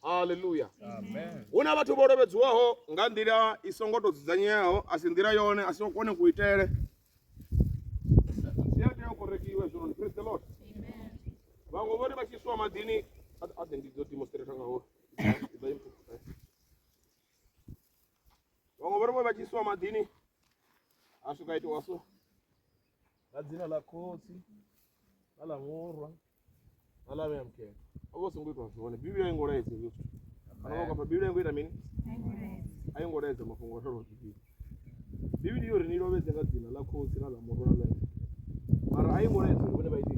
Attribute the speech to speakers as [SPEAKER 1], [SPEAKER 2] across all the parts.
[SPEAKER 1] haleluya hu na vhathu vho lovhedziwaho nga nḓila i songo tou dzudzanyeaho a si nḓila yone a si kone kuitele zwi a tea u korekiwe zwinoni praise the lord vhaṅwe vhone vha tshi swa maḓini a ḓe ndi dzo demonstrata ngaho vhaṅwe vhone vha tshi swa maḓini a swika itiwa so nga dzina ḽa khotsi na ḽa murwa na ḽa vhea mukhetho o vha u songo itwa zwone bivhili a i ngo laedza hezwo zwithu kana vha kwamba bivhili a i ngo ita mini a i ngo laedza mafhungo o raloho bivhili bivhili yo ri ni lovhedze nga dzina ḽa khotsi na ḽa murwa na ḽa vhea mukhetho mara a i ngo laedza uri vhone vha ite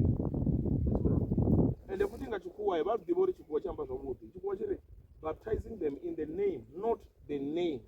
[SPEAKER 1] ende futhi nga tshikhuwa vha ḓivha uri tshikhuwa tshi amba zwavhuḓi tshikhuwa tshi ri baptizing them in the name not the names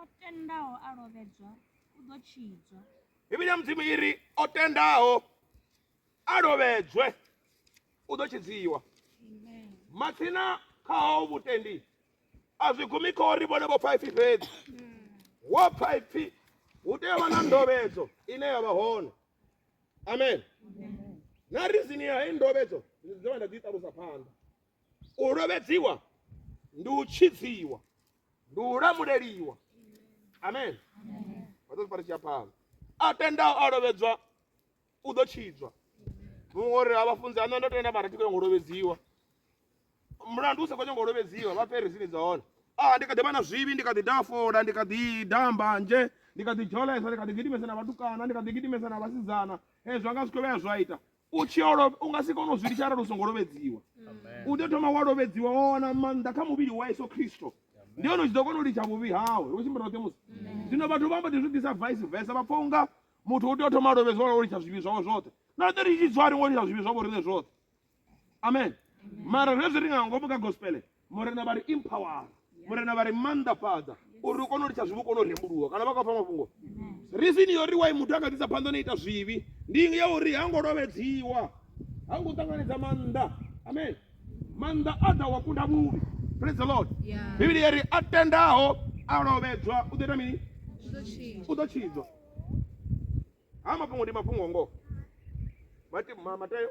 [SPEAKER 1] o tendaho a lovhedzwa u ḓo tshidzwa bivhili ya mudzimu i ri o tendaho a lovhedzwe u ḓo tshidziwa matsina khaho vhutendi a zwi gumi kho ri vhone vho pfaifi fhedzi wo pfaifi hu tea vha na ndovhedzo ine ya vha hone amen na rizini ya heyi ndovhedzo ndi ḓovha nda ḓi ṱalusa phanḓa u lovhedziwa ndi u tshidziwa ndi u lamuleliwa amen vhaḓo tshipari tshi a phala a tendaho a lovhedzwa u ḓo tshidzwa muṅwe uri a vhafunzi a nṋe ndo tenda mara thi khou nyanga u lovhedziwa mulandu u sa khou nyanga u lovhedziwa vha peresini dza hone a ndi kha ḓi vha na zwivhi ndi kha ḓi dafola ndi kha ḓi damba nzhe ndi kha ḓi dzholesa ndi kha ḓi gidimesa na vhatukana ndi kha ḓi gidimesa na vhasidzana hezwi anga zwi khou vhea zwa ita u tshi yo lovha u nga si kone u zwi litsha arali u songo lovhedziwa u tea u thoma wa lovhedziwa wa wana maanḓa kha muvhili wa yesu khristo ndi hone u tshi ḓo kona u litsha vhuvhi hawe hu tshimbira roṱhe musi zwino vhathu vha mbo ḓi zwi ḓisa vice versa vha pfa unga muthu u tea u thoma a lovhedziwa lwa u litsha zwivhi zwawe zwoṱhe na ḓo ri tshi dzwa ri ngo litsha zwivhi zwavho riṋe zwoṱhe amen mara zwezwi ri nga ngomu kha gospele murena vha ri empower murena vha ri mannḓafhadza uri ri kone u litsha zwivhi u kone u rembuluwa kana vha khou pfa mafhungo risini yo ri wai muthu a kha ḓisa phanḓa na ita zwivhi ndi ya uri ha ngo lovhedziwa ha ngo ṱanganedza maanḓa amen maanḓa a ḓa wa kunda vhuvhi praise the lord bivhili ya ri a tendaho a lovhedzwa u ḓo ita mini u ḓo tshidzwa ha mafhungo ndi mafhungo ngoho matayo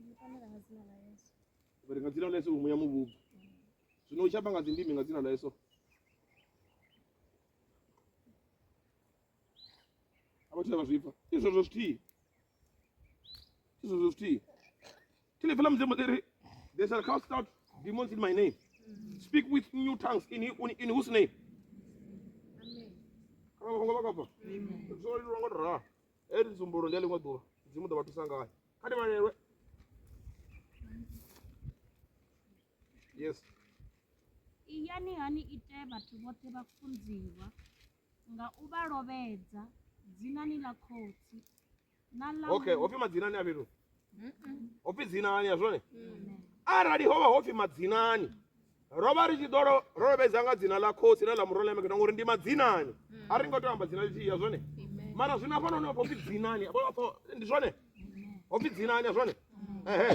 [SPEAKER 1] Ndi fanela nga dzina ḽa Yesu. Vha ri nga dzina ḽa Yesu muya muvhubvu. Zwino u tshi amba nga dzindimi nga dzina ḽa Yesu. A vha thu vha zwipfa. Ndi zwezwo zwithihi. Ndi zwezwo zwithihi. Thile fela mudzimu ḽi ri they shall cast out demons in my name. Speak with new tongues in, in, in whose name? Amen. Kana vha songo vha kafha. Zwo leluwa ngo to ralo. Hei ndi tsumbulo ndi ya ḽiṅwe ḓuvha mudzimu ḓo vha thusa ngayo kha ndi vhalelwe yes iyani ha ni ite vhathu vhoṱhe vha funziwa nga u vha lovhedza dzinani ḽa khotsi na ḽa okay ho pfi madzina ni a fhethu hopfi dzinani ya zwone arali ho vha ho pfi madzinani ro vha ri tshi ḓo lo- ro lovhedza nga dzina ḽa khosi ḽe ḽa murolemeketa ngori ndi madzinani a ri ngo tea u amba dzina lithihi ya zwone mara zwino afha noni hopfi dzinani Hafha- hafha- ndi zwone hopfi dzinani ya zwone ehe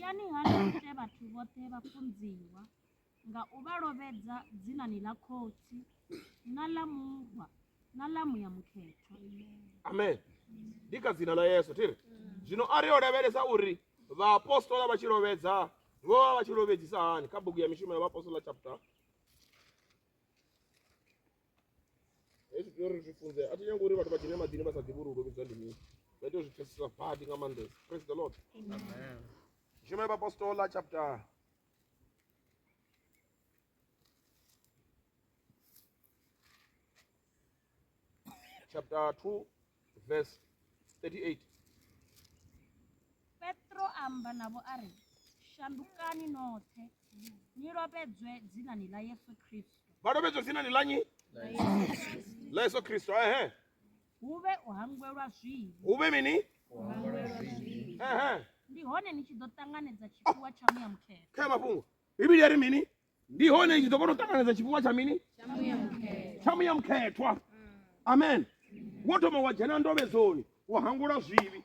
[SPEAKER 1] yani hani ite vhathu vhoṱhe vhafunziwa nga u vha lovhedza dzinani ḽa Khotsi na ḽa Murwa na ḽa Muya Mukhethwa. Amen. Ndi kha dzina ḽa Yesu thiri. Zwino a ri yo lavhelesa uri vhaapostola vha tshi lovhedza vho vha vha tshi lovhedzisa hani kha bugu ya mishumo ya vhaapostola chapter hezwi tea uri zwi funze a thi nyanga uri vhathu vha dzhene maḓini vha sa ḓivhi uri u lovhedzwa ndi mini vha tea u zwi pfesesa badi nga maanḓesa praise the lord mishumo ya vhaapostola chapter chapter 2 verse 38 petro amba navho a ri shandukani noṱhe ni lovhedzwe dzinani ḽa yesu kristo vha lovhedzwe dzinani ḽa nyi ḽa yesu kristo ehe hu vhe u hangwelwa zwivhi hu vhe mini ndi hone ni tshi ḓo ṱanganedza tshifhiwa tsha muya mukhethwa kha mafhungo bivhili ya ri mini ndi hone ni tshi ḓo kona u ṱanganedza tshifhiwa tsha mini tsha muya mukhethwa amen wo thoma wa dzhena ndovhedzoni wa hangula zwivhi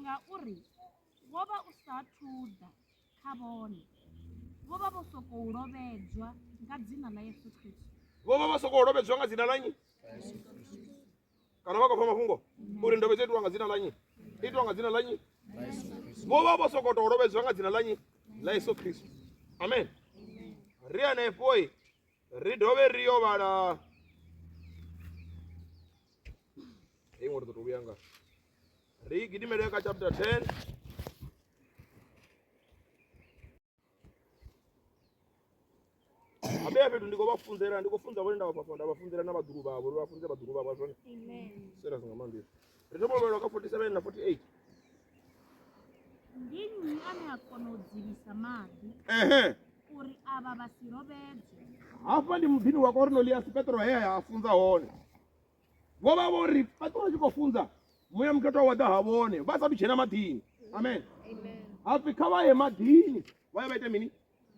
[SPEAKER 1] Ngauri wo vha u sa athu ḓa kha vhone, vho vha vho sokou lovhedzwa nga dzina ḽa Yesu Kristo. vho vha vha sokou lovhedzwa nga dzina ḽa nnyi kana vha khou pfa mafhungo uri ndovhedzo itiwa nga dzina ḽa nnyi itiwa nga dzina ḽa nnyi vho vha vho sokou tou lovhedzwa nga dzina ḽa nnyi ḽa yesu khristu amen ri hanefhoi ri dovhe ri yo vhala hei ngo ri ḓo to vhuya nga ri gidimele kha chapter 10 abe fhethu ndi khou vha funzela ndi khou funza vhone nda vha fhafha nda vha funzela na vhaḓulu vhavho ri vha funze vhaḓulu vhavho zwone sera zwi nga maanḓesa Ri thoma u vhalwa kha 47 na 48. Ndi nnyi ane a kona u dzivhisa maḓi Ehe. uri avha vha si lovhedzwe? Hafha ndi muḓini wa Korneliasi Petro he a funza hone. Vho vha vho ri Petro a tshi khou funza muya mukhethwa wa ḓa ha vhone vha sathu dzhena maḓini. Amen. Hapfi kha vha ye maḓini vha ye vha ite mini?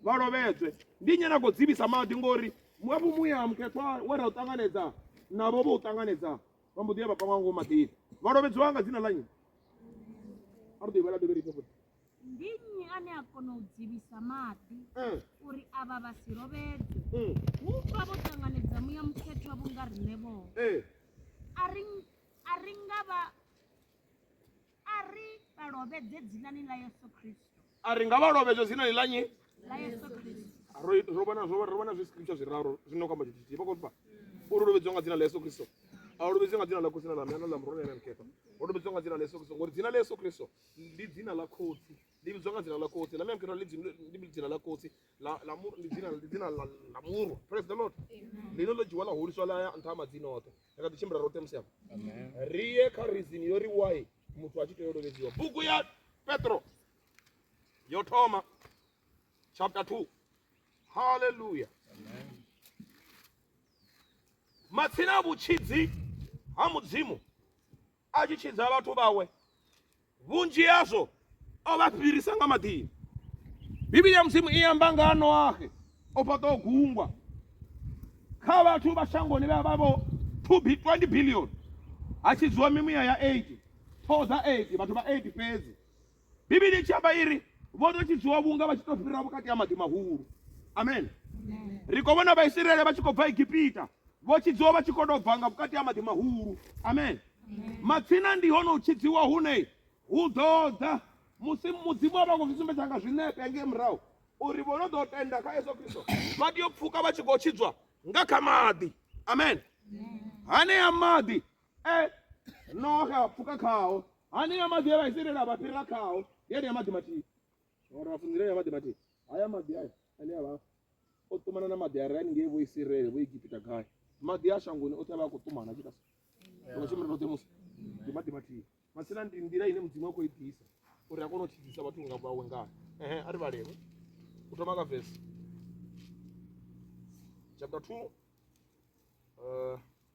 [SPEAKER 1] Vha lovhedzwe. Ndi nnyi ane a khou dzivhisa maḓi ngori muafho muya mukhethwa we ra u ṱanganedza navho vho u ṱanganedza vha mbo ḓi ya vha pangwa ngomu maḓini vha lovhedziwa nga dzina ḽa nnyi a ri ḓo ivhala dovhe rifhe futhi ndi nnyi ane a kona u dzivhisa maḓi eh. uri avha vha si lovhedzwe mm. hu pfa vho ṱanganedza muya mukhethwa vhunga riṋe vhoo eh. a ri nga vha a ri nga vha lovhedzwa dzinani ḽa nyi ro vha na zwiscripture zwiraru zwino kamba tshithu tshithihi vha khou pfa uri lovhedzwa nga dzina ḽa yesu kristo a u lovhedzwa nga dzina ḽa khotsi na ḽa mna na ḽa murona ene mkhefa ho lovhedzwa nga dzina ḽa yesu kristo ngori dzina ḽa yesu kristo ndi dzina ḽa khotsi ḽi vhidzwa nga dzina ḽa khotsi ḽa mya mkhefa ndi dzina ḽa khotsi la la mu- ndi dzina ndi dzina la la murwa praise the lord lino ḽo dzhiwa ḽa huliswa ḽa ya nṱha ha madzina oṱhe ri kha ḓi tshimbila roṱhe musi apa ri ye kha reason yo ri why muthu a tshi tea u lovhedziwa bugu ya petro yo thoma chapter 2 haleluya matsina a vhutshidzi ha mudzimu a tshi tshidza vhathu vhawe, vhunzhi hazwo o vha fhirisa nga maḓini. Bivhili ya Mudzimu i amba nga ha Noahe o fhaṱaho gungwa kha vhathu vha shangoni vhe vha vho 20 billion ha tshidziwa mimuya ya 8 ṱhoho dza 8 vhathu vha 8 fhedzi bivhili i tshi amba iri vho ḓo tshidziwa vhunga vha tshi tou fhira vhukati ha maḓi mahulu amen ri khou vhona vhaisraele vha tshi khou bva egipita vho tshidziwa vha tshi khou tou bva nga vhukati ha maḓi mahulu amen matsina ndi hone u tshidziwa hune hu ḓo ḓa musi mudzimu a vha khou zwi sumbedza nga zwinepe ngei murahu uri vho no ḓo tenda kha yesu kristo vha tea u pfuka vha tshi khou tshidzwa nga kha maḓi amen hanea maḓi e noxe a pfuka khao hanea maḓi e vha iselela vha fhirela khao yenea maḓi mathihi ora vha funzilenea maḓi mathihi haya maḓi aya ane a vha o ṱumana na maḓi a re haningei vho isirele vho egipita gai maḓi a shangoni oṱhe a vha a khou ṱumana tshita so vhashumi ri musi ndi maḓi mathihi masina ndi nḓila ine mudzimu a khou i ḓisa uri a kone u tshidisa vhathu nga vhawe ngayo ehe a ri vhalelwe u thoma ka vesi chapter two uh,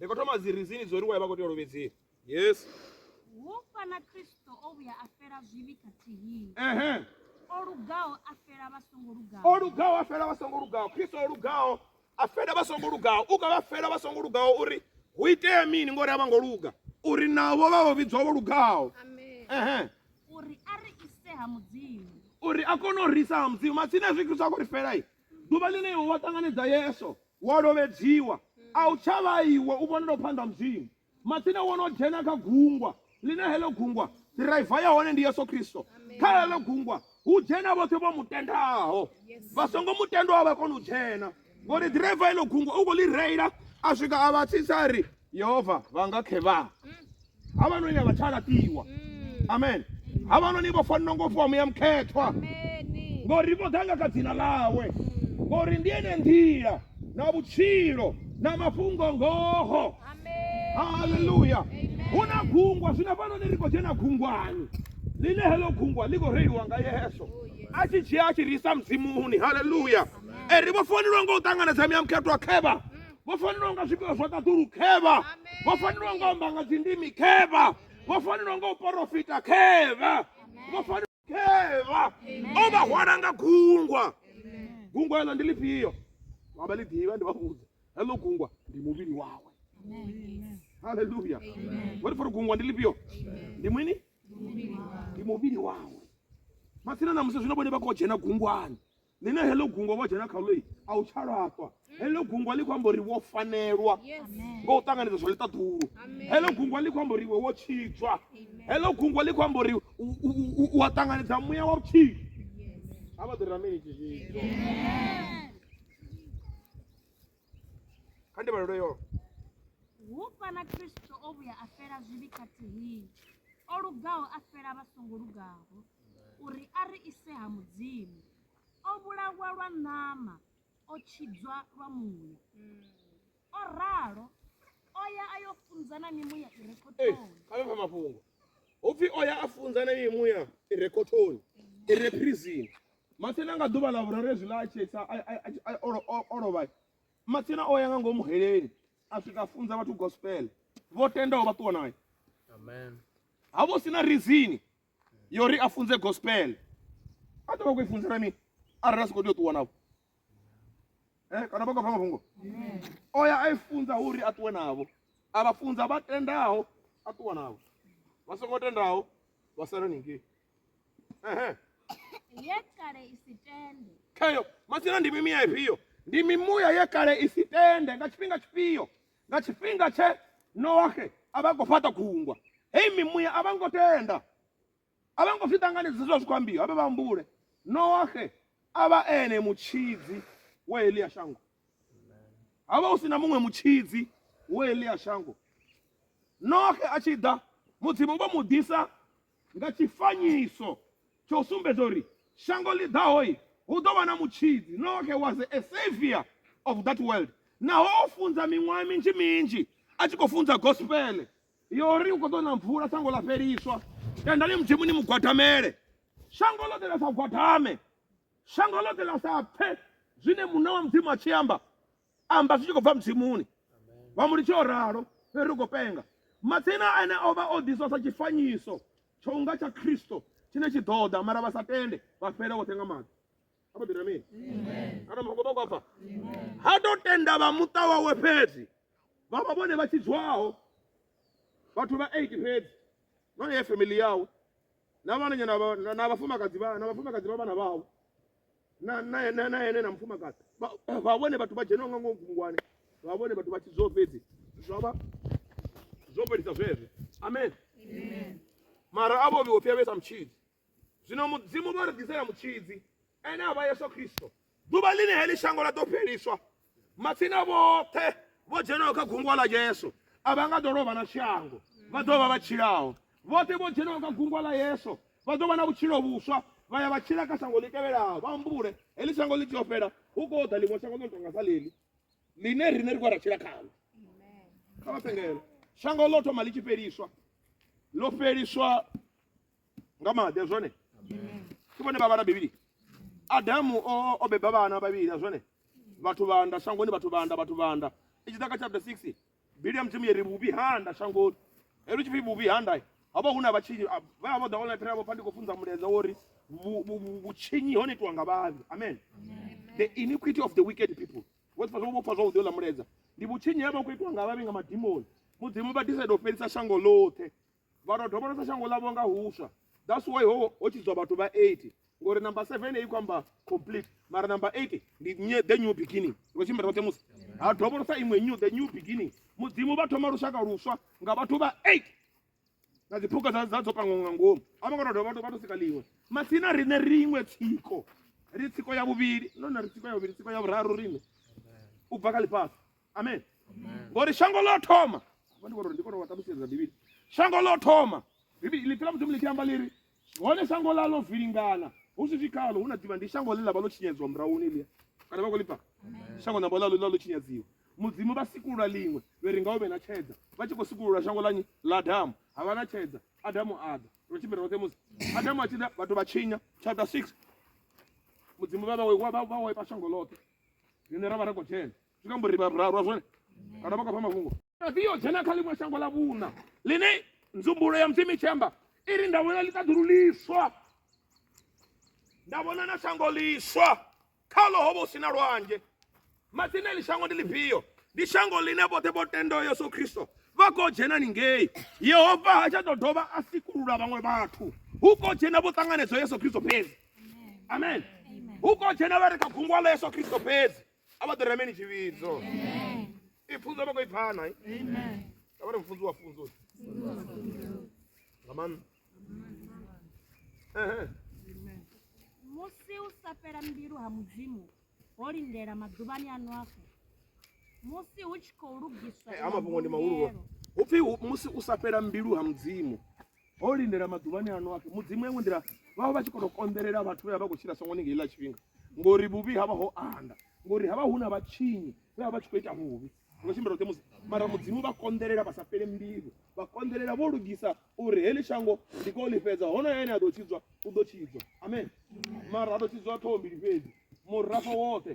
[SPEAKER 1] ri khou thoma dzi rizini dzo ri wa vha khou tea u lovhedzea yes wo fana kristo o vhuya a fela zwivhi khathihi ehe o lugaho a fela vha songo lugaho o lugaho a fela vha songo lugaho kristo o lugaho a fela vha songo lugaho u ka vha fela vha songo lugaho uri hu itea mini ngori a vha ngo luga uri navho vha vho vhidzwa vho lugaho ehe uri a ri ise ha mudzimu uri a kone u risa ha mudzimu matsina zwi kristo a khou ri fela i Ḓuvha ḽine iwe wa ṱanganedza Yesu, wa lovhedziwa, a u tsha vha iwe u vhonelaho phanḓa ha Mudzimu. Matsina wo no dzhena kha gungwa, ḽine heḽo gungwa ḓiraiva ya hone ndi Yesu Kristo. Kha heḽo gungwa hu dzhena vhoṱhe vho mu tendaho, vha songo mu tendaho a vha koni u dzhena, ngori ḓiraiva heḽo gungwa u khou ḽi reila a swika a vha tsitsa a ri, yehova vha nga khevhaa havhanoni a vha tsha laṱiwa mm. amen havhanoni vho fanela ngo fhiwa muya mukhethwa ngori vho ḓa nga kha dzina ḽawe mm. ngori ndi ene nḓila na vhutshilo na mafhungo ngoho haleluya hu na gungwa zwino hafhanoni ri khou dzhena gungwani ḽine heḽo gungwa ḽi khou reiliwa nga yeso oh, a tshi dzhia a tshi ri isa mudzimuni haleluya e ri vho fanelwa nga u ṱanganedza muya mukhethwa khevha mm. vho fanelwa nga zwifhiwa zwa ṱaḓulu khevha vho fanelwa nga amba nga dzindimi khevha vho fanelwa nga u porofita khevha vho fanelwa khevha o vha hwala nga gungwa gungwa eḽo ndi lifhio vha vha ḽi ḓivha ndi vha vhudza heḽo gungwa ndi muvhili wawe haleluya vhori fori gungwa ndi lifhio ndi mini ndi muvhili wawe matsina na musi zwino vhone vha khou dzhena gungwani ni na heḽo gungwa wa dzhena khaḽo a u tsha laṱwa heḽo gungwa ḽi khou amba uri wo fanelwa ngo u ṱanganedza zwa ḽiṱaḓulu heḽo gungwa ḽi khou amba uri iwe wo tshidzwa heḽo gungwa ḽi khou amba uri u a ṱanganedza muya wa vhutshilo a vha ḓo rameli tshizwidzo kha ndi vhalelo yo hu fana kristo o vhuya a fela zwivhi khathihi o lugaho a fela vha songo lugaho uri a ri ise ha Mudzimu. O vhulawa lwa ṋama, o tshidzwa lwa muya. O ralo, o ya a yo funza na mimuya i re khothoni. Kha vhe pfa mafhungo. Hupfi o ya a funza na mimuya i re khothoni, i re phrizini. Matsina nga ḓuvha ḽa vhuraru ezwi ḽa a tshesa a- a- a- a- o lo- o- o lovha. Matsina o ya nga ngomu heleni a swika a funza vhathu gospel. Vho tendaho vha ṱuwa naye. Amen. ha vho sina rizini ya uri a funze gospel a ḓo vha khou i funzela mini arali a si khou tea u ṱuwa navho eh, kana vha khou pfa mafhungo o ya a i funza uri a ṱuwe navho a vha funza vha tendaho a ṱuwa navho vha songo tendaho vha sala ningei ehe ye kale i si tende khayo masina ndi mimuya ifhio ndi mimuya ye kale i si tende nga tshifhinga tshifhio nga tshifhinga tshe noahe a vha khou fhaṱa khungwa heyi mimuya a vha ngo tenda a vha ngo zwi ṱanganedza zwa zwi khou ambiwa vhe vha humbule noahe a vha ene mutshidzi wa heḽi ya shango ha vha hu si na muṅwe mutshidzi wa heḽi ya shango noahe a tshi ḓa mudzimu vho mu ḓisa nga tshifanyiso tsha u sumbedza uri shango ḽi ḓahoi hu ḓo vha na mutshidzi. Noaxe was a saviour of that world. Naho o funza miṅwaha minzhi minzhi a tshi khou funza gospele ya uri hu khou ḓo na mvula, shango ḽa fheliswa. Tendani Mudzimu ni mu gwadamele. Shango ḽoṱhe ḽa sa gwadame, shango ḽoṱhe ḽa sa pfe zwine Muṋe wa Mudzimu a tshi amba. amba zwi tshi khou bva mutshimuni vha mu litshe o ralo fheri ri khou penga matsina ane o vha o ḓiswa sa tshifanyiso tsho unga tsha khristo tshine tshi ḓo ḓa mara vha sa tende vha fhela vhoṱhe nga maḓi apo ḓira mini ana mafhungo vha kwapfa ha to tenda vha muṱa wawe fhedzi vha vha vhone vha tshidzwaho vhathu vha eight fhedzi none ye family yawe na vhananyana na vhafumakadzi vha na vhafumakadzi vha vhana vhawe na na na na ene na mufumakadzi Vha- vha vhone vhathu vha dzheniwa nga ngomu gungwane vha vhone vhathu vha tshi zwo fhedzi zwa vha zwo fhelisa zwezwo amen mara a vho vhiwo pfhi avhesa mutshidzi zwino mudzimu vha ri ḓisela mutshidzi ene a vha yesu kristo ḓuvha ḽine heḽi shango ḽa ḓo fheliswa matsina vhoṱhe vho dzhenaho kha gungwa ḽa yesu a vha nga ḓo lovha na shango vha ḓo vha vha tshilaho vhoṱhe vho dzhenaho kha gungwa ḽa yesu vha ḓo vha na vhutshilo vhuswa vha ya vha tshila kha shango ḽi tevhelaho vha humbule heḽi shango ḽi tea u fhela hu khou ḓa ḽiṅwe shango ḽo no tonga sa ḽeḽi ḽine riṋe ri khou ra tshila khalo kha vha pengele shango ḽo thoma ḽi tshi fheliswa ḽo fheliswa nga maḓi zwone ke vhone vha vhala bivhili adamu o beba vhana vhavhili a zwone vhathu vhanda shangoni vhathu vhanda vhathu vhanda i tshi ḓa kha chapter 6 bili ya mudzimu yeri vhuvhi handa shangoni helu tshipfi vhuvhi handa havha huna vhatshinyi vha vha vho ḓa online phela vho pfa ndi khou funza muleza wori vhutshinyi hone itiwa nga vhavhi amen the iniquity of the wicked people vho pfa zwo pfa zwavhuḓi ola muleza ndi vhutshinyi havha khou itiwa nga vhavhi nga madimoni mudzimu vha decide u fhelisa shango ḽoṱhe vha tou dovholosa shango ḽavho nga huswa that's why ho ho tshidzwa vhathu vha 80 ngori number 7 i khou amba complete mara number 8 ndi nye- the new beginning ngo tshimbila roṱhe musi ha dovholosa iṅwe new the new beginning mudzimu vha thoma lushaka luswa nga vhathu vha 8 na dziphukha dza dza dzo pangwa nga ngomu a vho ngo tou dovha vha tou sika ḽiṅwe matsina riṋe ri iṅwe tsiko ri tsiko ya vhuvhili none ri tsiko ya vhuvhili tsiko ya vhuraru riṋe u bva kha ḽifhasi amen ngori shango ḽo thoma ndi kone ndi kone wa ṱalutshedza bivhili shango ḽo thoma bivhili ḽipfela mudzimu ḽi tshi amba ḽiri hone shango ḽa ḽo vilingana hu si zwikalo hu na ḓivha ndi shango ḽe ḽa vha ḽo tshinyadzwa murahuni ḽia kana vha khou ḽipfa shango namba ḽa ḽo tshinyadziwa mudzimu vha sikulula ḽiṅwe vhe ri nga u vhe na tshedza vha tshi khou sikulula shango ḽa nyi ḽa adamu ha vha na tshedza adamu a ḓa ro tshimbira roṱhe musi adamu a tshi ḓa vhathu vha tshinya chapter six mudzimu vha vha wa vha wa ipa shango ḽoṱhe rine ra vha ri khou dzhena zwi kambo ri vhararu a zwone kana vha kha mafhungo ri yo dzhena kha ḽiṅwe shango ḽa vhuna ḽine nzumbulo ya mudzimu tshi amba i ri nda vhona ḽiṱaḓulu ḽiswa nda vhona na shango ḽiswa khalo ho vha hu si na lwanzhe matsini eḽi shango ndi ḽifhio ndi shango ḽine vhoṱhe vho tendaho yesu khristo vha khou dzhena ningei yehova ha tsha ḓo dovha a sikulula vhaṅwe vhathu hu khou dzhena vho ṱanganedzo yesu khristo fhedzi amen hu khou dzhena vha re kha gungwa ḽa yesu khristo fhedzi a vha ḓo rame ni tshivhidzo i pfunzo vha khou i pfana a vha ri mfunzi wa funzo nga maanḓa musi u sa fhela mbilu ha mudzimu ho lindela maḓuvhani a nwafo musi hu tshi khou lugiswa eh, a mafhungo ndi mahulu hu pfhi musi u sa fhela mbilu ha mudzimu ho lindela maḓuvhani ano apfhi mudzimu ya iṅwe nḓila vha vha vha tshi kono konḓelela vhathu vhe vha vha khou tshila songo ni nga iḽa tshifhinga ngori vhuvhi havha ho anda ngori havha hu na vhatshinyi vhe vha vha tshi khou ita vhuvhi ngo tshimbila roṱhe musi mara mudzimu vha konḓelela vha sa fhele mbilu vha konḓelela vho lugisa uri heḽi shango ndi koo ḽi fhedza hono ene a ḓo tshidzwa u ḓo tshidzwa amen mara a ḓo tshidzwa ṱhoho mbili fhedzi murafho woṱhe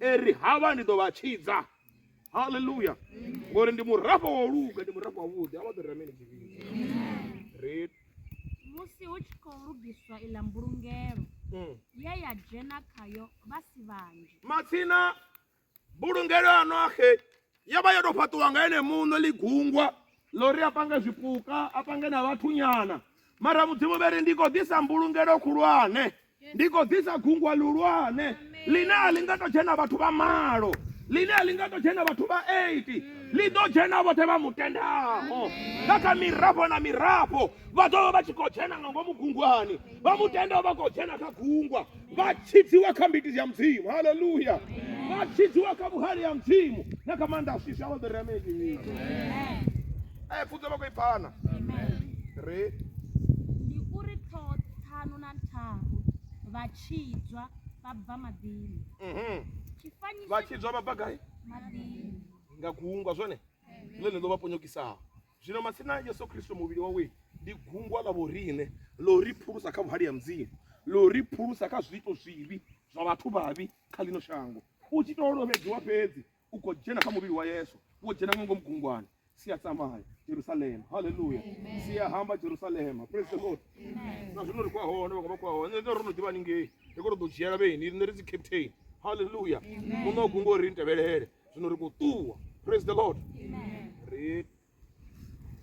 [SPEAKER 1] eri havha ndi ḓo vha tshidza haleluya ngori ndi murafho wa luga ndi murafho wa vhuḓi a vha ḓo rameni tshivhidzi musi hu tshi khou lugiswa iḽa mbulungelo mm. ye ya dzhena khayo vha si vhanzhi matsina mbulungelo ya noaxe yo vha yo tou fhaṱiwa nga ene muṋo ḽi gungwa ḽo ri a pange zwipuka a pange na vhathunyana mara mudzimu vhe ri ndi khou ḓisa mbulungelo khulwane ndi khou ḓisa gungwa luhulwane ḽine a ḽi nga tou dzhena vhathu vha malo ḽine a ḽi nga tou dzhena vhathu vha 8 ḽi ḓo dzhena vhoṱhe vha mutendaho nga kha mirafho na mirafho vha ḓo vha vha tshi khou dzhena nga ngomu gungwani vha mutendaho vha khou dzhena kha gungwa vha tshidziwa kha mbiti ya mudzimu haleluya vha tshidziwa kha vhuhali ya mudzimu na kha maanḓa a swiswa vha ḓo ri ameni e pfunzo vha khou i phana re ndi uri ṱhoho ṱharu vha tshidzwa vha bva maḓini mhm. vha tshidzwa vha bva gai nga gungwa zwone ḽone ḽo vha ponyokisaho zwino masina a yesu kristo muvhili wawe ndi gungwa ḽa vhorine ḽo ri phulusa kha vhuhali ha mudzimu ḽo ri phulusa kha zwiito zwivhi zwa vhathu vhavhi kha ḽino shango u tshi tou lovhedziwa fhedzi u khou dzhena kha muvhili wa yesu wo dzhena nga ngomu gungwani sia tsamaya jerusalema halleluya sia hamba jerusalema praise the lord na zwino ri khou ya hone vhaṅwe vha khou ya hone nṋe ro no ḓivha haningei ri khou to ḓo dzhiela vheni riṋe ri dzi captain halleluya muṋe wa gungo ri ntevhelele zwino ri khou ṱuwa praise the lord ri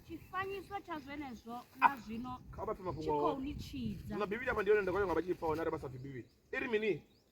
[SPEAKER 1] tshifanyiso tsha zwenezwo na zwino kha vha pfe tshi mafhungo khou awe ni tshidza na bivhili amba ndi yone nda khou ya nga vha tshi pfa hone arali vha sa pfi bivhili i ri mini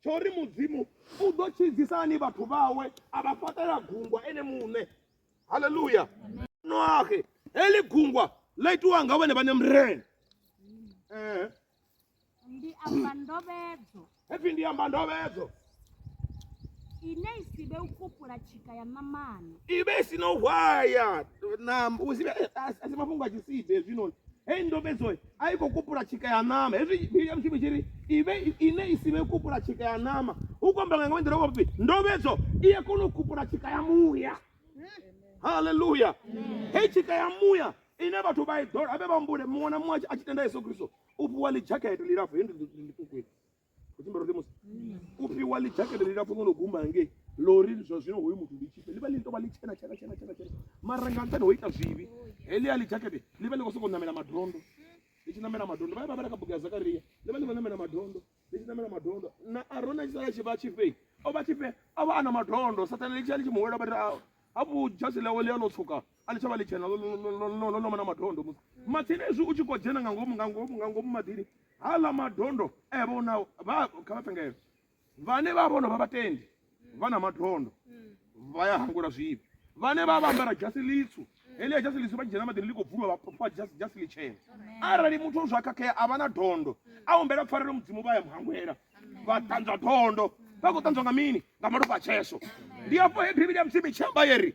[SPEAKER 1] tsho ri mudzimu u ḓo tshidzisa hani vhathu vhawe a vha fhaṱela gungwa ene muṋe haleluya noahe heḽi gungwa ḽa itiwa nga vhone vhane mrene eh. ndi amba ndovhedzo hepfi ndi amba ndovhedzo ine i si vhe u kupula tshika ya ṋamani i vhe i si no hwaya na eh, a si mafhungo a tshisibe hezwinoni heyi ndovhedzo a i khou kupula tshika ya ṋama hezwi bili ya mushumo tshi ri ive ine i si vhe kupula tshika ya ṋama u khou amba nga nga nḓila wa vhupi ndovhedzo i a kona u kupula tshika ya muya haleluya hei tshika ya muya ine vhathu vha i ḓola vhe vha humbule muṅwe na muṅwe a tshi tenda yesu kristo u fhiwa ḽi dzhakete ḽilapfu he ndi ṱukwini kutimbarotemosi kupiwa lijakete lilapfu no guma hange lori zwa zwino hoyu muthu ndi tshipe livha litovha li tshena tshena tshena tshena tshena mara nga nṱhani ho ita zwivhi helia lijakete livha ḽi khou sokou namela madondo li tshi namela madondo vhae vha vhala kha bugu ya zakaria livha ḽi khou namela madondo li tshi namela madondo na arona tshi sala tshi vha tshifhe o vha tshifhe a vha a na madondo sathane litshia litshi muhwela vha ri hafhu dzhasi ḽawe ḽi a no tswuka a ḽi tsha vha ḽitshena ḽo no vha na madondo musi matsini ezwi u tshi khou dzhena nga ngomu nga ngomu nga ngomu maḓini haḽa madondo e vha u nao vha kha vha pengele vhane vha vhono vha vhatendi vha na madondo vha ya hangula zwivhi vhane vha vha ambara dzhasi ḽitswu heḽia dzhasi ḽitswu vha tshi dzhena maḓini ḽi khou bvulwa vha pfha dzhasi dzhasi ḽitshena arali muthu o zwa khakhea a vha na dondo a humbela pfarelo mudzimu vha ya muhangwela vha ṱanzwa dondo vha khou ṱanzwa nga mini nga malofha a tshesho ndi afho he bivhili ya mudzimu i tshi amba yeri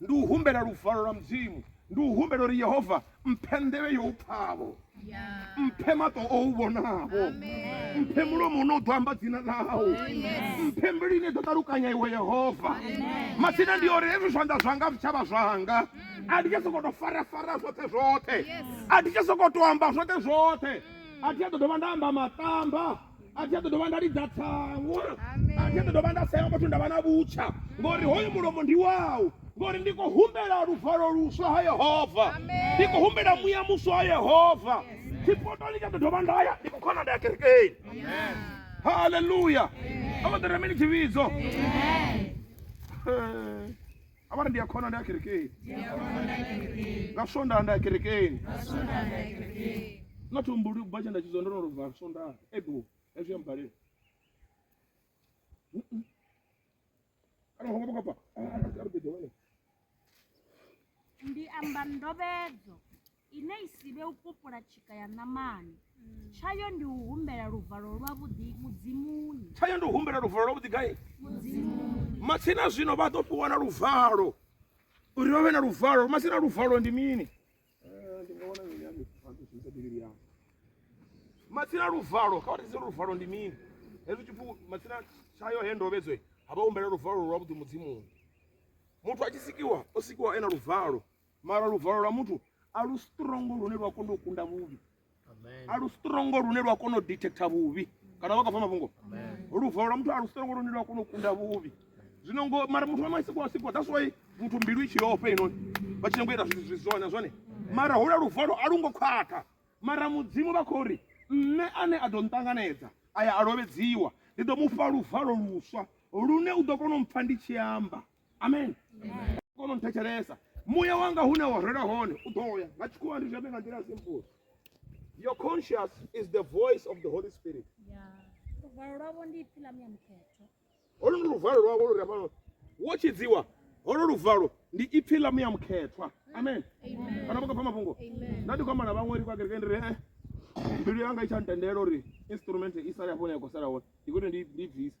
[SPEAKER 1] ndi u humbela luvalo lwa mudzimu ndi u humbela uri yehova mphe nḓevhe yo u pfhavho mphe maṱo o u vhonavho mphe mulomo une u ḓo amba dzina ḽau oh, mphe mbilu ine ḓo ṱalukanya iwe yehova matsina ndi uri hezwi zwanḓa zwanga zwi tshavha zwanga a ndi tsha sokou tou farafara zwoṱhe zwoṱhe a ndi tsha sokou tou amba zwoṱhe zwoṱhe a thi a ḓo dovha nda amba maṱamba a thi a ḓo dovha nda lidza tsango a thi a ḓo dovha nda sea muthu nda vha na vhutsha ngori hoyu mulomo ndi wau ngori ndi khou humbela luvalo luswa ha yehova ndi khou humbela muya muswa ha yehova tshipotoni tsha ḓo dovha nda ya ndi khou khona nda ya kerekeni haleluya a vha ḓo rema ni tshivhidzo a vha ri ndi a khona ndi a kerekeni nga swondaha ndi a kerekeni not umbuli ubva tshe nda tshidzwa ndo no lova swondaha ebo hezwi ya mbalela kana ho ngoba kapa ndi amba ndobedzo ine i si vhe u kopula tshika ya ṋamani tshayo ndi u humbela luvalo lwavhuḓi mudzimuni tshayo ndi u humbela luvalo lwavhuḓi gai matsina zwino vha ḓo fhiwa na luvalo uri vha vhe na luvalo matsina luvalo ndi mini matsina luvalo kha vhathise luvalo ndi mini hezwi tshipfu matsina tshayo he ndovhedzwe ha vha humbela luvalo lwavhuḓi mudzimuni muthu a tshi sikiwa o sikiwa e na luvalo mara luvalo lwa muthu a lu strongo lune lwa kona u kunda vhuvhi a lu strongo lune lwa kona u detecta vhuvhi kana vha khou pfha mafhungo luvalo lwa muthu a lu strongo lune lwa kona u kunda vhuvhi zwino ngo mara muthu wa masiko wa siko that's why muthu mbilu i tshi yofa inoni vha tshi nyanga u ita zwithu zwone zwone mara hula luvalo a lu ngo khwaṱha mara mudzimu vha khou ri nṋe ane a ḓo nṱanganedza aya a lovhedziwa ndi ḓo mu fha luvalo luswa lune u ḓo kona u mpfha ndi tshi amba amen kono nthetshelesa muya wanga hune wa rela hone u ḓo ya nga tshikhuwa ndi zwone nga nḓila ya simple your conscious is the voice of the holy spirit luvalo lwavho ndi ipfi ḽa muya mukhetho holo ndi luvalo lwavho lu revalo wo tshidziwa holo luvalo ndi ipfi ḽa muya mukhethwa amen kana vha khou pfa mafhungo nda ndi khou amba na vhaṅwe ri kwa kereke ndi ri eh mbilu yanga i tsha ntendela uri instrument i sale hafho ne ya khou sala hone ndi kuti ndi ndi bvise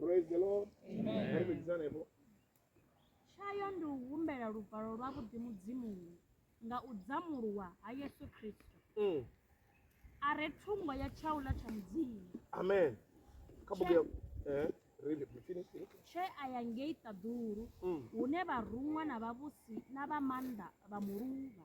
[SPEAKER 1] Praise the Lord. Amen. Amen. tshayo ndi u humbela luvalo lwa vhuḓi mudzimuni nga u dzamuluwa ha yesu kristo mm. a re thungo ya tshaula tsha mudzimu amen eh, tshe a ya ngei ṱaḓulu mm. hune vharuṅwa na vhavhusi na vha maanḓa vha muluvha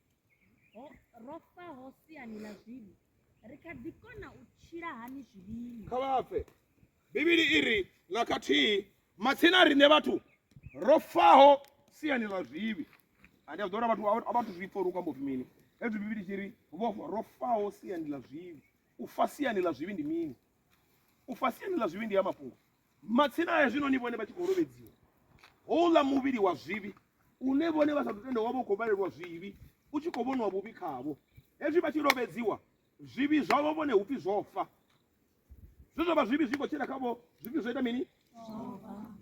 [SPEAKER 1] Ho ro fa ho siani ḽa zwivhi, ri kha ḓi kona u tshila hani zwivhini? kha vha fe bivhili i ri nga khathihi matsina a riṋe vhathu ro faho siani ḽa zwivhi ane a ḓo uri vhathu a- a vhathu zwi pfa uri u kwamba upfi mini hezwi bivhili tshi ri vho fa- ro faho siani ḽa zwivhi u fa siani ḽa zwivhi ndi mini u fa siani ḽa zwivhi ndi ya mafhungo Matsina aya zwino ni vhone vha tshi khou lovhedziwa houḽa muvhili wa zwivhi une vhone vha sa ḓo tenda wa vha u khou vhalelwa zwivhi u tshi khou vhonwa vhuvhi khavho hezwi vha tshi lovhedziwa zwivhi zwavho vhone hu pfi zwo fa zwe zwa vha zwivhi zwi khou tshila khavho zwivhi zwo ita mini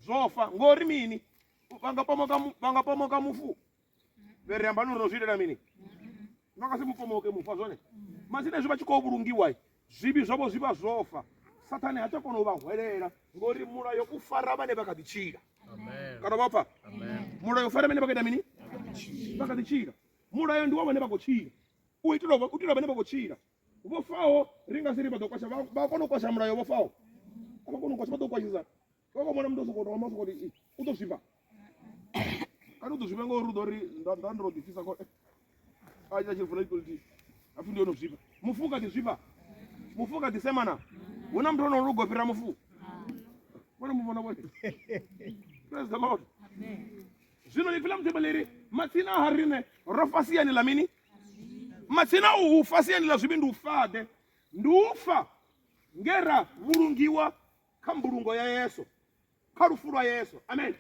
[SPEAKER 1] zwo fa ngori mini vha nga pomoka vha nga pomoka mufu vhe ri amba nori no zwi itela mini no nga si mupomoke mufa zwone mazine zwi vha tshi khou vhulungiwa zwivhi zwavho zwi vha zwo fa sathane ha tsha kona u vha hwelela ngori mulayo u fara vhane vha kha ḓi tshila kana vha pfa mulayo u fara vhane vha kha ita mini vha kha ḓi tshila mulayo ndi wa vhane vha khou tshila u itela u itela vhane vha khou tshila vho faho ri nga si ri vha ḓo kwasha vha kona u kwasha mulayo vho faho a vha kona u kwasha vha ḓo kwashisa vha khou mona muthu o sokou thoma sokou ri u ḓo zwifha kana u ḓo zwifha ngauri u ḓo ri nda nda ndo ḓifisa ko eh, a ita tshilifuna ikoliti hapfi ndi yono zwifha mufu kha ḓi zwifha mufu kha ḓi semana hu na muthu ono lugo fhira mufu vhone mu vhona vhone praise the lord zwino ipfi ḽa mudzimu ḽiri matsina ha riṋe ro fasiyani ḽa mini matsina u u fasiyani ḽa zwivhi ndi u fade ndi u fa nge ra vhulungiwa kha mbulungo ya yesu kha lufu lwa yesu amen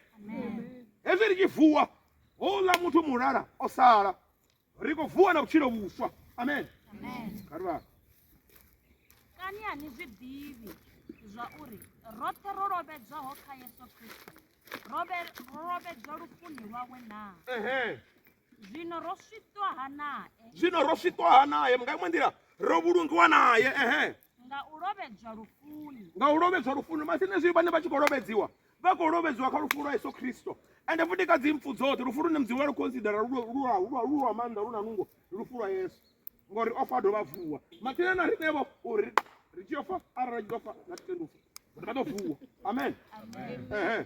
[SPEAKER 1] hezwi ri tshi vuwa houḽa muthu mulala o sala ri khou vuwa na vhutshilo vhuswa amen karivha kani a ni zwi ḓivhi zwa uri roṱhe ro lovhedzwaho kha yesu kristo ro vhe- ro lovhedzwa lufuni lwawe naa ehe zwino ro switwa ha nae zwino ro switwa ha nae nga iṅwe nḓila ro vhulungiwa naye ehe nga u lovhedzwa lufuni nga u lovhedzwa lufuni masine zwi vhane vha tshi khou lovhedziwa vha khou lovhedziwa kha lufu lwa yesu khristo ende futi kha dzi mpfu dzoṱhe lufu lune mudzimu vha lu considera lu lwa maanḓa lu na nungo lufu lwa yesu ngori o fa dovha vuwa mathina na riṋevho uri ri tshi yo fa arali tshi ḓo fa na titendi u fa ri vha ḓo vuwa amen ehe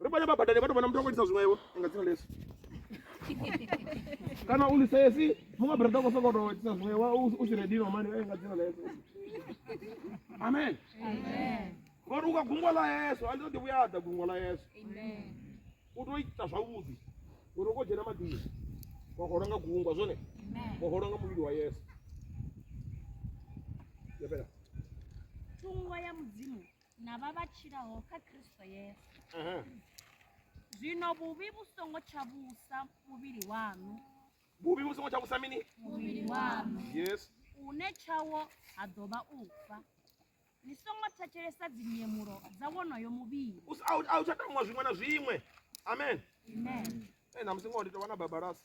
[SPEAKER 1] ri vhone vha badani vha tou vhona muthu a khou itisa zwiṅwevho nga dzina lesu kana u lisesi muṅwe brada u khou sokou tou itisa zwiṅwewa u si redino mani eh, nga dzina lesu amen ngori u ka gungwa ḽa yesu a ndi ṱo ḓi vhuya ḓa gungwa ḽa yesu u tou ita zwavhuḓi uri u khou dzhena maḓini wa holwa nga gungwa zwone wa holwa nga muvhili wa yesu yabela thungo ya mudzimu na vha vha tshilaho kha Kristo Yesu. Aha. Zwino vhuvhi vhu songo tsha vhusa muvhili waṋu, vhuvhi vhu songo tsha vhusa mini muvhili waṋu yes une tshawo ha ḓo vha u fa. Ni songo thetshelesa dzinyemulo dza wonoyo muvhili. U s- a u- a u tsha tamuwa zwiṅwe na zwiṅwe amen Amen. Eh, na musi ngoho ndi tovha na babalasi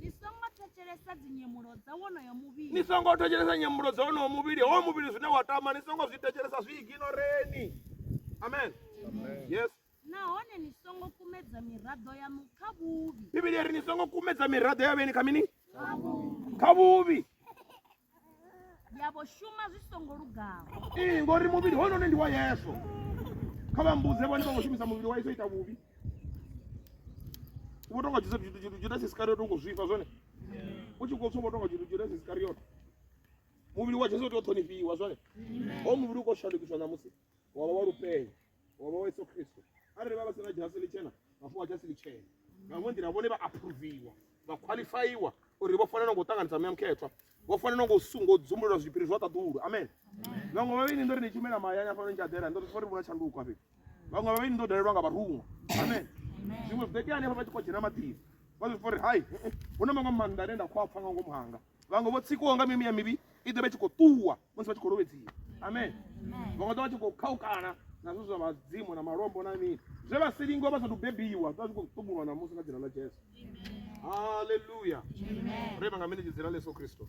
[SPEAKER 1] ni songo thetshelesa dzinyemulo dza wonoyo muvhili ni songo thetshelesa nyemulo dza wonoyo muvhili howo muvhili zwine wa tama ni songo zwi thetshelesa zwi iginoreni amen yes nahone ni songo kumedza miraḓo yaṋu kha vhuvhi bivhili ri ni songo kumedza miraḓo ya vheni kha mini kha vhuvhi ya vho shuma zwi songo lugaho ee ngori muvhili hounoni ndi wa yesu kha vha mmbudze vhone vha khou shumisa muvhili wa yesu ita vhuvhi vho tonga judasi iskariota u khou zwifha zwone u tshi khou tswa vho tonga judasi iskariota muvhili wa jesu u tea u ṱhonifhiwa zwone ho muvhili u khou shandukiswa ṋamusi wa vha wa lupenya wa vha wa yesu kristo arali vha vha sina dzhasi litshena vha fhiwa dzhasi litshena nga iṅwe nḓila vhone vha aphuruviwa vha khwaḽifaiwa uri vho fanela ngo ṱanganisa muya mukhethwa vho fanela ngo sungo dzumbulula zwipiri zwa ṱaḓulu amen vhaṅwe vha vheni ndo ri ni tshumela mahayani afha ni tshadela ndo ri vhona tshanduko afhe vhaṅwe vha vheni ndo dalelwa nga vharuṅwa amen zwiṅwe zwi ḓo itea hanefha vha tshi khou dzhena maḓini vha zwi pfa uri hai hu na maṅwe maanḓa ane nda khou a pfa nga ngomu hanga vhaṅwe vho tsikiwaho nga mimuya mivhi i ḓo vha tshi khou ṱuwa musi vha tshi khou lovhedziwa amen vhaṅwe ḓo vha tshi khou khaukana nazwo zwa vhadzimu na malombo na mini zwe vha si lingwa vha sathu bebiwa zwa zwi khou ṱumulwa na musi nga dzina ḽa jesu haleluya ri vha nga mini dzina ḽa yesu kristo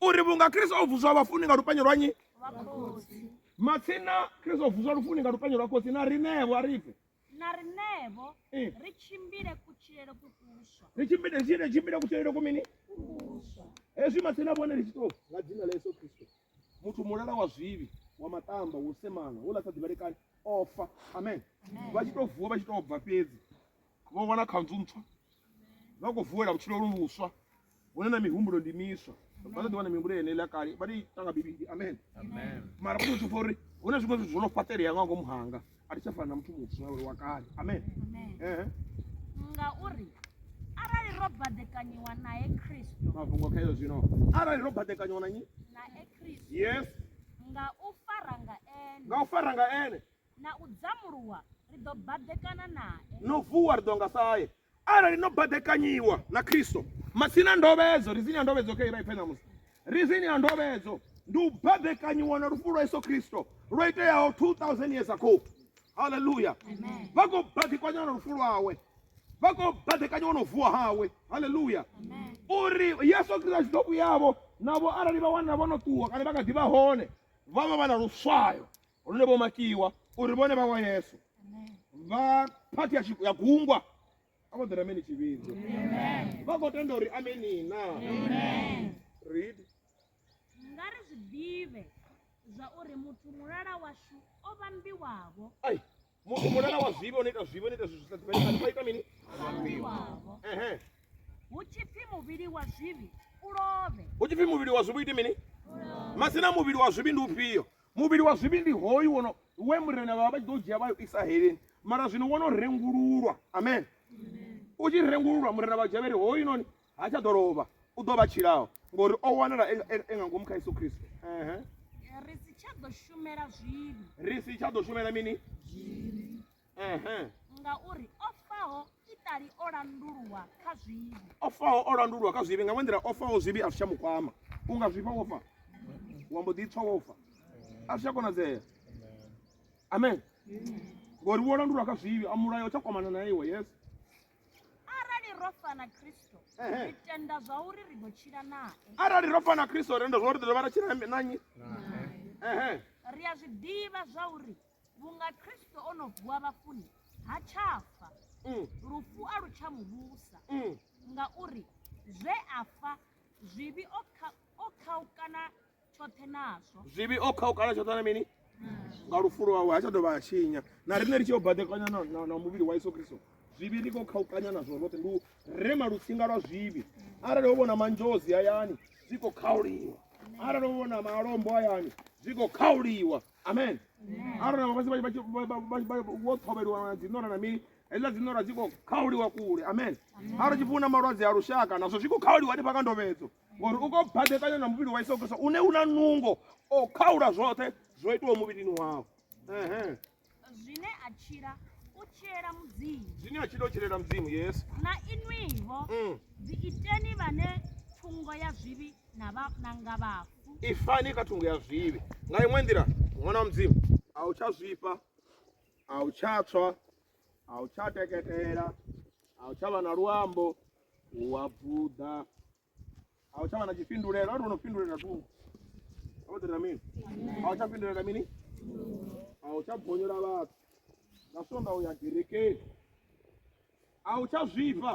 [SPEAKER 1] uri vhunga kristo o vuswa vhafuni nga lupenyo lwa nyi matsina kristo o vuswa lufuni nga lupenyo lwa khotsi na rinevo a rife na rinevo eh. ri tshimbile kutshilele kukuswa ri tshimbile tshimbile tshimbile kutshilele ku mini hezwi matsina vhone ri tshi to nga dzina ḽa yesu kristo muthu mulala wa zwivhi wa matamba wo semana wo ḽa sa ḓivhalekani ofa amen vha tshi to vuwa vha tshi to bva fhedzi vho wana khanzu ntswa vha khou vuwela vhutshilo lu luswa hune na mihumbulo ndi miswa vha ṱoḓi wana mihumbulo yene ḽa kale vha ri tanga bivhili amen mara vha ṱoḓi uri hu na zwiṅwe zwithu zwo no fhaṱelea nga ngomu hanga a thi tsha fana na muthu muswa uri wa kale amen ehe ngauri arali ro baḓekanyiwa nae kristo mafhungo kha iyo zwino arali ro baḓekanyiwa na nyi nae kristo yes nga u fara nga ene nga u fara nga ene Na u dzamuluwa ri ḓo baḓekana nae. No vuwa ri ḓo nga sae. Arali no baḓekanyiwa na Kristo, masina ndovhedzo, rizini ya ndovhedzo kha ira ipfe ṋamusi. Rizini ya ndovhedzo ndi u baḓekanyiwa na lufu lwa Yesu Kristo lwo iteaho 2000 years ago. Hallelujah. Vha khou baḓekanyiwa na lufu lwawe. Vha khou baḓekanyiwa na u vuwa hawe. Hallelujah. Uri Yesu Kristo a tshi ḓo vhuyavho navho arali vha wana vho no ṱuwa kana vha kha ḓi vha hone vha vha vha na luswayo lune vho makiwa uri vhone vha wa yesu vha phathi ya tshi- ya gungwa a vho ḓela mini tshivhidzo vha khou tenda uri ameni na read nga ri zwi ḓivhe zwa uri muthu mulala washu o vhambiwavho ai muthu mulala wa zwivhi ono ita zwivhi ono ita zwithu sa ḓivhaifani vha ita mini ehe hu tshipfi muvhili wa zwivhi u lovhe hu tshipfi muvhili wa zwivhi ite mini masina muvhili wa zwivhi ndi ufhio muvhili wa zwivhi ndi hoyu wono we murena vha vha tshi ḓo dzhia vha yo isa heleni mara zwino wono rengululwa amen u tshi rengululwa murena vha dzhavheri hoyu noni ha tsha ḓo lovha u ḓo vha tshilaho ngori o wanala e, e, e nga ngomu kha yesu kristo ri si tsha ḓo shumela zwivhi ri si tsha ḓo shumela mini ngauri o faho itali o landulwa kha zwivhi o faho o landulwa kha zwivhi nga ṅwe nḓila o faho zwivhi a zwi tsha mu kwama u nga zwifha wo fa wa mbo ḓi tswa wo fa a zwi tsha konadzea amen ngori wo landulwa kha zwivhi a mulayo tsha kwamana na iwe yes arali ro fa na kristo Ehe. ri tenda zwauri ri ḓo tshila nae arali ro fa na kristo renda zwa uri ḓo dovha ra tshila na nnyi Ehe. ri a zwi ḓivha zwauri vhunga kristo o no vuwa vhafuni ha tsha fa Mm, lufu a lu tsha mu vhusa mm. ngauri zwe a fa zwivhi o kha- o khaukana tshoṱhe nazwo zwivhi o khaukana tshoṱhe na mini nga lufulo wawe ha tsha dovha a tshinya na riṋe ri tshi yo badekanya na muvhili wa yesu kristo zwivhi ri khou khaukanya nazwo roṱhe ndi u rema lutsinga lwa zwivhi arali ho vhona manzhozi hayani zwi khou khauliwa arali ho vhona malombo hayani zwi khou khauliwa amen arali vhafhasi wo ṱhovheliwa na dziṋora na mini hezwiḽa dziṋora dzi khou khauliwa kule amen arali tshifuna malwadze a lushaka nazwo zwi khou khauliwa hanefha nga ndovhedzo ngori u khou badekanya na muvhili wa isogesa une u na nungo o khaula zwoṱhe zwo itiwa muvhilini wao zwine a tshila u tshilela mudzimu zwine a tshila u tshilela mudzimu yes na inwiho mm. dzi iteni vhane thungo ya zwivhi na vha na nga vhafu ifani kha thungo ya zwivhi nga iṅwe nḓila ṅwana wa mudzimu a u tsha zwifha a u tsha tswa a u tsha teketela a u tsha vha na luambo u wa bvuḓa a u tsha vha na tshifhindulelo a ri no fhindulela thungo a vha ḓira mini a u tsha fhindulela mini a u tsha bonyola vhathu nga sonda u ya gerekeni a u tsha zwifha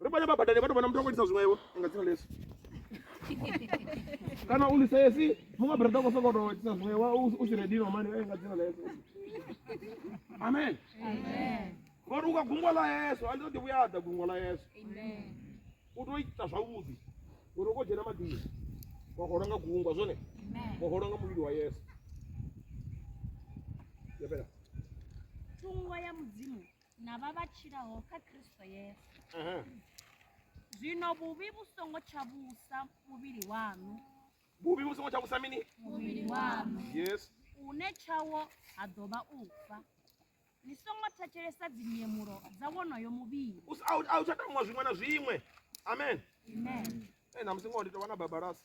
[SPEAKER 1] ri vhone vha badani vha tou vhona muthu a khou itisa zwiṅwevho nga dzina lesu kana u lisesi muṅwe brada u khou sokou tou itisa zwiṅwewa u si redino mani eh, nga dzina lesu amen ngori u ka gungwa ḽa yesu a ndi ḓo ḓi vhuya ḓa gungwa ḽa yesu u tou ita zwavhuḓi uri u khou dzhena maḓini wa holwa nga gungwa zwone wa holwa nga muvhili wa yesu yabela thungo ya mudzimu na vha vha tshilaho kha Kristo Yesu. Aha. Zwino vhuvhi vhu songo tsha vhusa muvhili waṋu, vhuvhi vhu songo tsha vhusa mini muvhili waṋu yes une tshawo ha ḓo vha u fa. Ni songo thetshelesa dzinyemulo dza wonoyo muvhili. U s- a u- a u tsha tamuwa zwiṅwe na zwiṅwe amen Amen. Eh, na musi ngoho ndi tovha na babalasi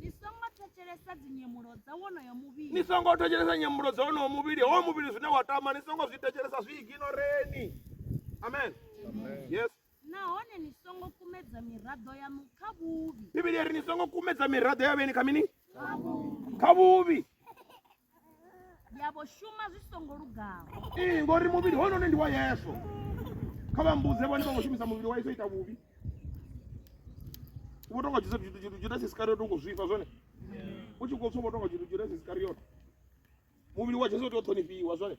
[SPEAKER 1] ni songo thetshelesa dzinyemulo dza wonoyo muvhili ni songo thetshelesa nyemulo dza wonoyo muvhili howo muvhili zwine wa tama ni songo zwi thetshelesa zwi iginoreni amen yes nahone ni songo kumedza miraḓo yaṋu kha vhuvhi bivhili ri ni songo kumedza miraḓo ya vheni kha mini kha vhuvhi ya vho shuma zwi songo lugaho ee ngori muvhili hounoni ndi wa yesu kha vha mmbudze vhone vha khou shumisa muvhili wa yesu ita vhuvhi vho tonga judasi iskariot u khou zwifha zwone u tshi khou tswa vho tonga judasi iskariot muvhili wa jesu u tea u ṱhonifhiwa zwone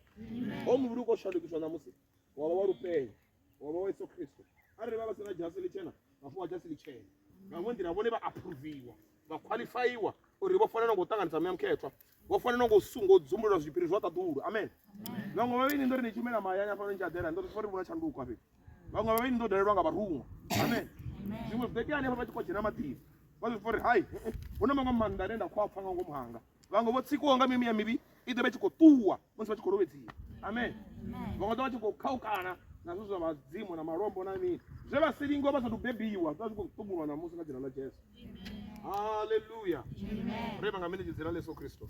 [SPEAKER 1] ho muvhili u khou shandukiswa ṋamusi wa vha wa lupenya wa vha wa yesu kristo arali vha vha si na dzhasi ḽitshena vha fhiwa dzhasi ḽitshena nga ṅwe nḓila vhone vha aphuruviwa vha khwaḽifaiwa uri vho fanela ngo ṱanganisa muya mukhethwa vho fanela ngo sungo dzumbulula zwipiri zwa ṱaḓulu amen vhaṅwe vha vheni ndo ri ni tshumela mahayani afha ni tshi aḓela ndo ri vhona tshanduko afhe vhaṅwe vha vheni ndo dalelwa nga vharuṅwa amen zwiṅwe zwi ḓo tea hanefha vha tshi khou dzhena maḓini vha zwi pfa uri hai hu na maṅwe maanḓa ane nda khou a pfa nga ngomu hanga vhaṅwe vho tsikiwaho nga mimuya mivhi i ḓo vha tshi khou ṱuwa musi vha tshi khou lovhedziwa amen vhaṅwe ḓo vha tshi khou khaukana nazwo zwa vhadzimu na malombo na mini zwe vha si lingwa vha sathu bebiwa zwa zwi khou ṱumulwa na musi nga dzina ḽa jesu haleluya re vha nga mini dzina ḽa yesu kristo